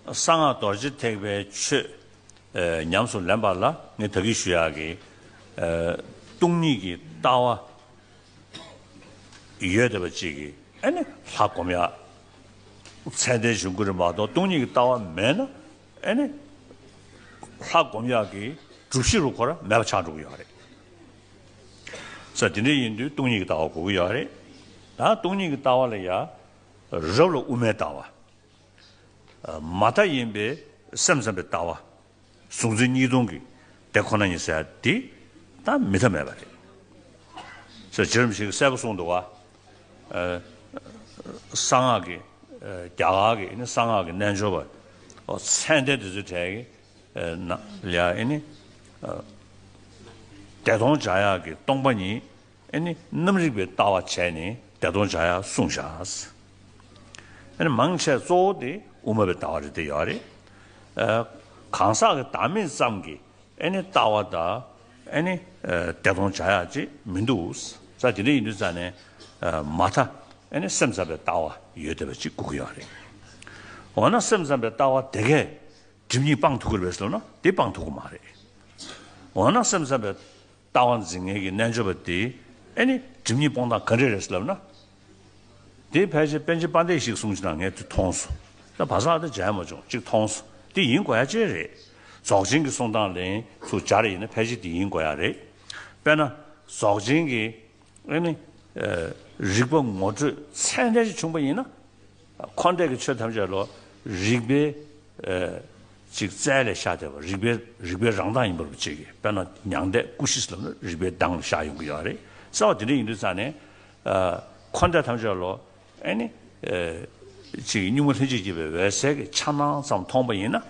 གསང་སྔགས་རྡོ་རྗེ་ཐེག་པའི་ཆོས། ཉམས་སུ་ལེན་པ་ལ་ངས་དག་གིས་ཞུ། ཡག་གི། སྟོང་ཉིད་ཀྱི་ལྟ་བ། ཡོད་བདེ་བ་གཅིག་གི། ཨེ་ནི་ལྷ་བསྒོམ་ཡག། ཚད་ལྡན་བྱུང་ཀུན་རིག་མ་གཏོགས་སྟོང་ཉིད་ཀྱི་ལྟ་བ་མེད་ན། ཨེ་ནི་ལྷ་བསྒོམ་ཡག་གི། བསྒྲུབ་གཞི་རུ་འཁོར་མེད་པ་ཆགས་འགྲོ་གི་ཡོད་རེད། ས་དེ་འདྲ་ཡིན་དུས་སྟོང་ཉིད་ཀྱི་ལྟ་བ་གོ་གི་ཡོད་རེད། ད་སྟོང་ཉིད་ཀྱི་ལྟ་བ་ལ་ཡ། རབ་ལ་དབུ་མའི་ལྟ་བ། མ་མཐའ་ཡིན་པས་སེམས་ཙམ་པའི་ལྟ་བ། གཟུང་འཛིན་གཉིས་སྟོང་གི་དེ་ཁོ་ན་ཡིན་ཟེར་བ་དེ་ད་མི་མཐའ་མེད་པ་རེད། ཟེར་བྱེད་རིམ་ཞིག་གསལ་པོ་གསུངས་འདུག་བ། གསང་སྔགས་ཀྱི་རྒྱ་གར་གྱི་གསང་སྔགས་ཀྱི་རྣལ་འབྱོར་པ་ཚད་འདས་དེ་ཚོའི་གྲས་ཀྱི་ནང་ལ། བདེ་སྟོང་སྦྱང་ཡག་གི་སྟོང་པ་ཉིད་ཨེ་ནི་རྣམ་རིག་པའི་ལྟ་བ་བྱས་ནས་བདེ་སྟོང་བྱ་ཡ་གསུངས་བཞག། ཨེ་ནི་མང་ཆེ་གཙོ་བོ་དེ་དབུ་མ་པའི་ལྟ་བ་རེད་དེ་ཡོད་རེད། གང་ཟག་གི་བདག་མེད་ཙམ་གྱི་ཨེ་ནི་ལྟ་བ་དག་ཨེ་ནི་བདེ་སྟོང་བྱ་ཡ་ཅིག་མི་འདུག་ས་དེ་འདྲ་ཡིན་དུས་རྩ་ནས་མ་མཐའ་ཨེ་ནི་སེམས་ཙམ་པའི་ལྟ་བ་ཡོད་བསྡད་པ་ཅིག་སྒུག་གི་ཡོད་རེད། འོ་ན་སེམས་ཙམ་པའི་ལྟ་བ་དེ་གས་སྒྲིབ་གཉིས་སྤང་ཐུབ་གི་རེད་ཟེར་ན་དེ་སྤང་ཐུབ་གི་མ་རེད། འོ་ན་སེམས་ཙམ་པའི་ལྟ་བ་འཛིན་ངེས་ཀྱི་རྣལ་འབྱོར་པ་དེས་ཨེ་ནི་སྒྲིབ་གཉིས་སྤོང་སྟངས་ག་རེ་རེད་ཟེར་ལབ་ན། དེའི་ཕལ་ཆེར་དཔལ་ཆེན་དཔའ་འདས་ཤིག་གསུངས་ཅི་ན་ངས་དེ་མཐོང་སོ། ད་བ་ཟག་དེ་འཇལ་མ་བྱུང་གཅིག་མཐོང་སོ། དེ་ཡིན་དགོས་ཡ་ཅེ་རེད། རྫོགས་ཆེན་གྱི་གསུང་དང་ལན་ཚུ་སྦྱར་ཡིན་ན་ཕལ་ཆེར་དེ་ཡིན་དགོས་ཡ་རེད། དཔེར་ན། རྫོགས་ཆེན་གྱི་ཨེ་ནི། རིགས་པ་ངོ་སྤྲོད་ཚད་འཇལ་ཅིག་བྱུང་བ་ཡིན་ན། འཁོར་འདས་ཀྱི་ཆོས་ཐམས་ཅད་ལོ། རིག་པའི། ཅིག་རྩལ་ལས་ཤར་བསྡད་པ་རིག་པའི་རིག་པའི་རང་གདངས་ཡིན་པ་རུ་བྱེད་ཀྱི་དཔེར་ན་མྱང་འདས་སྐུ་བཞི་ལམ་ལ་རིག་པའི་གདངས་ལ་ཤར་ཡོང་གི་ཡོད་རེད་གསལ་བ་དེ་འདྲ་ཡིན་དུས་ཙང་ནས། འཁོར་འདས་ཐམས་ཅད་ལོ། ཨནི། ཅིག་གཉུག་མ་ལྷན་ཅིག་སྐྱེས་པའི་འོད་གསལ་གྱི་འཆར་སྣང་ཙམ་མཐོང་པ་ཡིན་ན།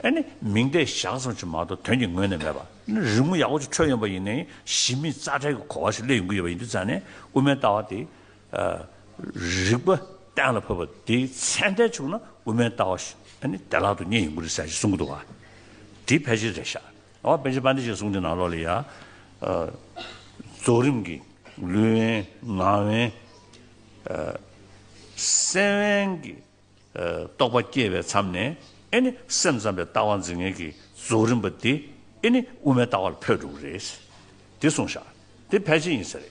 ཨནི། མིང་བརྡས་བཞག་ཙམ་གྱིས་མ་གཏོགས་དོན་གྱི་ངོས་ནས་མེད་པ། ནི་རི་མོ་ཡག་པོ་ཅིག་འཕྲོས་ཡོང་པ་ཡིན་ནའི་གཞི་མེད་རྩ་བྲལ་གྱི་གོ་བ་ཞིག་སླེབས་ཡོང་གི་ཡོད་པ་ཡིན་དུས་ཙང་ནས་དབུ་མའི་ལྟ་བ་དེ། རིག་པ་གཏན་ལ་ཕབ་པ་དེའི་མཚན་ལྡན་བྱུང་ན་དབུ་མའི་ལྟ་བ་ཞིག་ནི་བདེ་བླག་ཏུ་རྙེད་ཡོང་གི་རེད་ཟེར་གྱི་གསུང་གི་འདུག་བ། དེའི་ཕལ་ཆེར་རེད་ཤག་ཨོ་པེ་ཇི་པཱ་ནི་ཞེས་གསུང་དེ་ནང་ལོགས་ལ་ཡང། རྫོགས་རིམ་གྱི་ལུས་དབེན་ངག་དབེན། སེམས་དབེན་གྱི་རྟོགས་པ་སྐྱེས་པའི་མཚམས་ནས་ཨེ་ནི་སེམས་ཙམ་པའི་ལྟ་བ་འཛིན་མཁན་གྱི་རྫོགས་རིམ་པ་དེ་ཨེ་ནི་དབུ་མའི་ལྟ་བ་ལ་འཕོས་འགྲོ་གི་རེད། དེ་གསུང་ཤག་དེ་ཕལ་ཆེར་ཡིན་ས་རེད།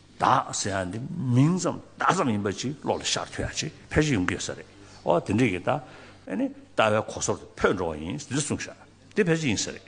བདག་ཟེར་ཡ་འདི་མིང་ཙམ་བདག་ཙམ་ཡིན་པ་ཅིག་བློ་ལ་ཤར་ཐུབ་ཡ་ཅིག་ཕལ་ཆེར་ཡོང་གི་ཡོད་ས་རེད་ཨོ་དེ་འདྲས་ཀྱི་ད་ཨེ་ནས་ལྟ་བའི་གོ་སོར་དུ་འཕོས་འགྲོ་བ་ཡིན་འདི་གསུངས་ཤག་འདི་ཕལ་ཆེར་ཡིན་ས་རེད།